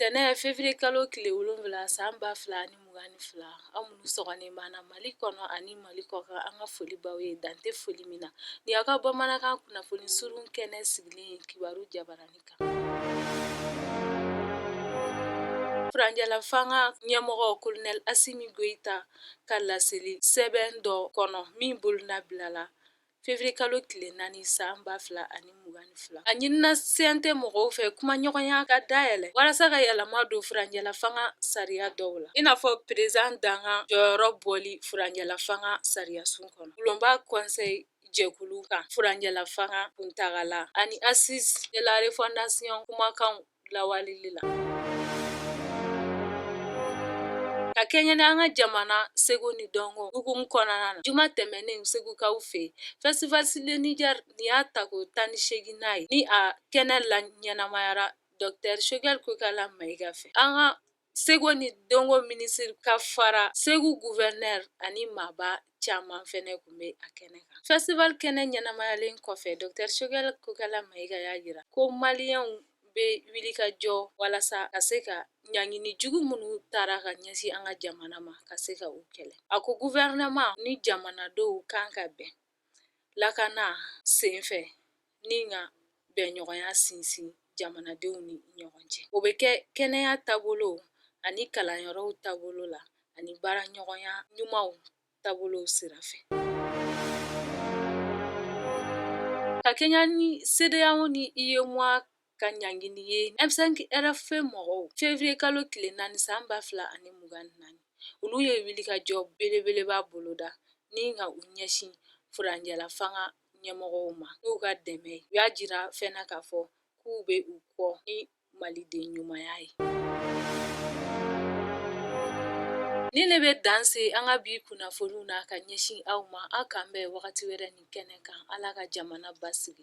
Tɛnɛn février kalo tile wolonwula san ba fila ani mugan ni fila aw minnu sɔgɔlen b'an na mali kɔnɔ ani mali kɔkan an ka foli b'aw ye dan tɛ foli min na nin y'aw ka bamanankan kunnafoni surun kɛnɛ sigilen ye kibaru jabaranin kan furancɛlafanga ɲɛmɔgɔ Colonel Assimi Goïta ka laseli sɛbɛn dɔ kɔnɔ min bolonɔ bilala Fevrier kalo tile 4 san 2022 a ɲinina CNT mɔgɔw fɛ kumaɲɔgɔnya ka dayɛlɛ walasa ka yɛlɛma don furancɛlafanga sariya dɔw la, i n'a fɔ Peresidan dankan jɔyɔrɔ bɔli furancɛlafanga sariyasun kɔnɔ, bulonba Conseil jɛkulu kan furancɛlafanga kuntagala ani Assises de la refondation kumakanw lawaleli la. Ka kɛɲɛ ni an ka jamana seko ni dɔnko hukumu kɔnɔna na, juma tɛmɛnen segukaw fɛ, Festival sur le Niger nin y'a tako tan ni seeginnan ye, ni a kɛnɛ laɲɛnamayara Docteur Choguel Kokala Mayiga fɛ. An ka Seko ni dɔnko minisiri ka fara segu gouverneur ani maaba caman fɛnɛ tun bɛ a kɛnɛ kan festival kɛnɛ ɲɛnamayalen kɔfɛ Docteur Choguel Kokala Mayiga y'a jira ko maliyɛnw bɛ wuli ka jɔ walasa ka se ka ɲangini jugu minnu tara ka ɲɛsin an ka jamana ma ka se ka u kɛlɛ a ko gouvernement ni jamanadenw kan ka bɛn lakana senfɛ ni ka bɛnɲɔgɔnya sinsin jamanadenw ni ɲɔgɔn cɛ o bɛ kɛ kɛnɛya taabolo ani kalanyɔrɔw taabolo la ani baara ɲɔgɔnya ɲumanw taabolo sira fɛ ka kɛɲɛ ni CEDEAO ni UEMOA ka ɲangini ye M5-RFP mɔgɔw février kalo tile naani san ba fila ani mugan ni naani olu ye wulikajɔ belebeleba boloda ni ka u ɲɛsin furancɛlafanga ɲɛmɔgɔw ma n'u ka dɛmɛ ye u y'a jira fɛnɛ k'a fɔ k'u bɛ u kɔ ni maliden ɲumanya ye nin de bɛ dan se an ka bi kunnafoniw na ka ɲɛsin aw ma aw k'an bɛn wagati wɛrɛ nin kɛnɛ kan ala ka jamana basigi